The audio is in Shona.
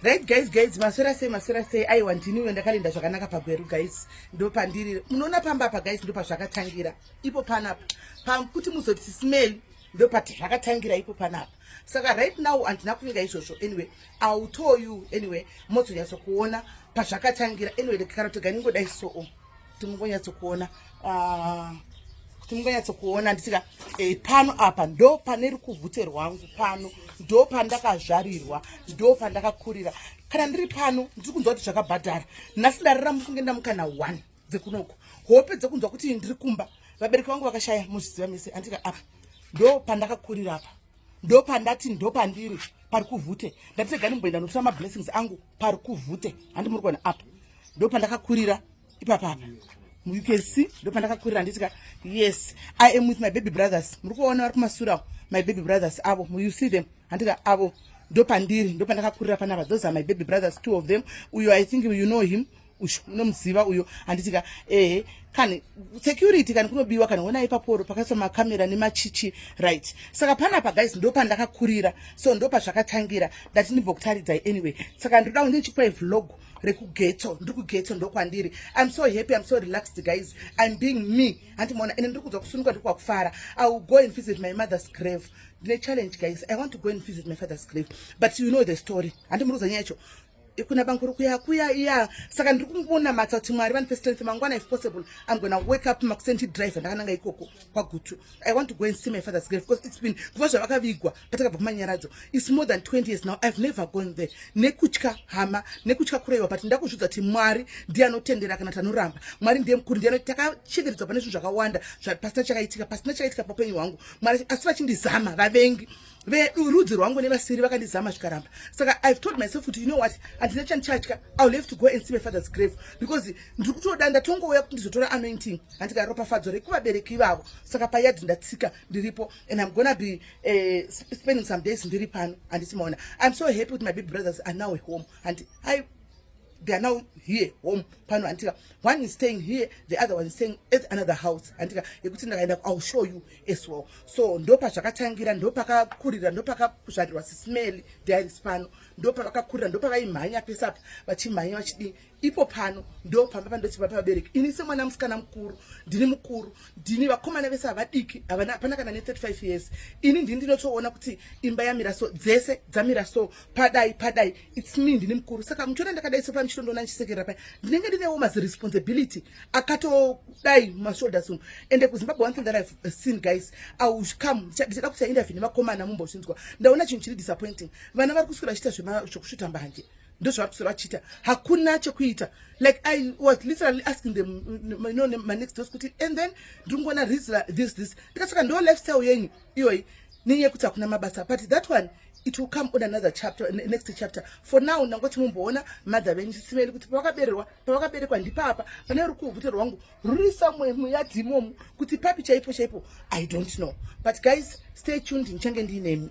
right guys guys maswera sei maswera sei aiwa ndiniwe ndakalinda zvakanaka pagweru guys ndopandiri munoona pamba apa guys ndopazvakatangira ipo panapa pakuti muzoti smell ndopati zvakatangira ipo panapa saka right now handina kuvinga izvozvo anyway ill tell you anyway mozonyatsokuona pazvakatangira anyway kana toganingodai soo kuti mungonyatsokuona ah, kuti mungonyatsokuona ndisika eh, pano apa ndo pane rukuvhute rwangu pano ndo pandakazvarirwa ndo pandakakurira kana ndiri pano ndiri kunzwa kuti zvakabhadhara nhasi ndarira mufunge ndamukana one dzekunoko hope dzekunzwa kuti ndiri kumba vabereki vangu vakashaya muzviziva mese andika apa ndo pandakakurira apa ndopandati ndopandiri pari kuvhute ndati regani mboenda notora mablessings angu pari kuvhute handi muri kuona apa ndopandakakurira ipapapa you can see ndopandakakurira handitika yes i am with my baby brothers muri kuona vari kumasurawo my baby brothers avo you see them handika avo ndopandiri ndopandakakurira panapa those are my baby brothers two of them uyo i think you know him uyu unomuziva uyo handitika ehe kani security kani kunobiwa kana wena ipaporo pakaiswa makamera nemachichi right saka panapa guys ndopandakakurira so ndopazvakatangira ndati ndibva kutaridzai anyway saka ndinoda kuti ndichipai vlog rekugetso ndiri kugetso ndokwandiri im so happy im so relaxed guys im being me handimoona ende ndiri kudzwa kusunuka ndiri kwakufara i will go and visit my mother's grave ndine challenge guys i want to go and visit my father's grave but you know the story handimuri kuza nyaya yacho kuna banguru kuya kuya iya saka ndiri kumubona matsa kuti mwari vanipe strength mangwana if possible i'm gonna wake up makuseni ndidrive ndakananga ikoko kwagutu i want to go and see my father's grave because it's been kuva zvavakavigwa patakabva kumanyaradzo it's more than 20 years now i've never gone there nekutya hama nekutya kureva but ndakuzvidza kuti mwari ndiye anotendera kana tanoramba mwari ndiye mukuru ndiye takachekeredzwa pane zvinhu zvakawanda pasina chakaitika pasina chakaitika paupenyu hwangu mwari asi vachindizama vavengi vedu rudzi rwangu nevasiri vakandizama zvikaramba saka ive told myself kuti you know what handina chandichatya i will have to go and see my father's grave because ndiri kutoda ndatongouya kuti ndizotora anointing handika ropafadzo rekuvabereki ivavo saka payard ndatsika ndiripo and im gona be uh, spending some days ndiri pano handiti maona iam so happy kuti my big brothers are now home handi they are now here home pano handika one is staying here the other one is staying at another house handika yekuti ndakaenda ill show you as well so ndopazvakatangira ndopakakurira ndopakazvarirwa sismeli diaris pano ndopavakakurira ndopavaimhanya pese apa vachimhanya vachidii ipo pano ndo pamba pandoti papa vabereki ini semwana musikana mukuru ndini mukuru ndini vakomana vese havadiki hapana kana ne35 years ini ndini ndinotoona kuti imba yamira so dzese dzamira so padai padai its me ndine mukuru saka muchiona ndakadai so pamuchito ndoona ndichisekerera paya ndinenge ndinewo mas responsibility akatodai mashoulders umu ende kuzimbabwe one thing that ive uh, seen guys aucome ndichada kuti aindavi nemakomana mumbozvinzwa ndaona chinhu chiri disappointing vana vari kuswira vachiita zvekusvuta mbanje ndozvavari kuswira vachiita hakuna chekuita like i was literally asking them mm, no manext dos kuti and then ndiri kungoona rizla this this ndikasaka ndo lifestyle yenyu iyoyi nenyaya yekuti hakuna mabasa but that one it will come on another chapter next chapter for now ndangoti mumboona mother venyu chisimeni kuti pavakabererwa pavakaberekwa ndipapa pane uri kuhute rwangu ruri somewhere muyadhi imomu kuti papi chaipo chaipo i don't know but guys stay tuned ndichange ndiinemi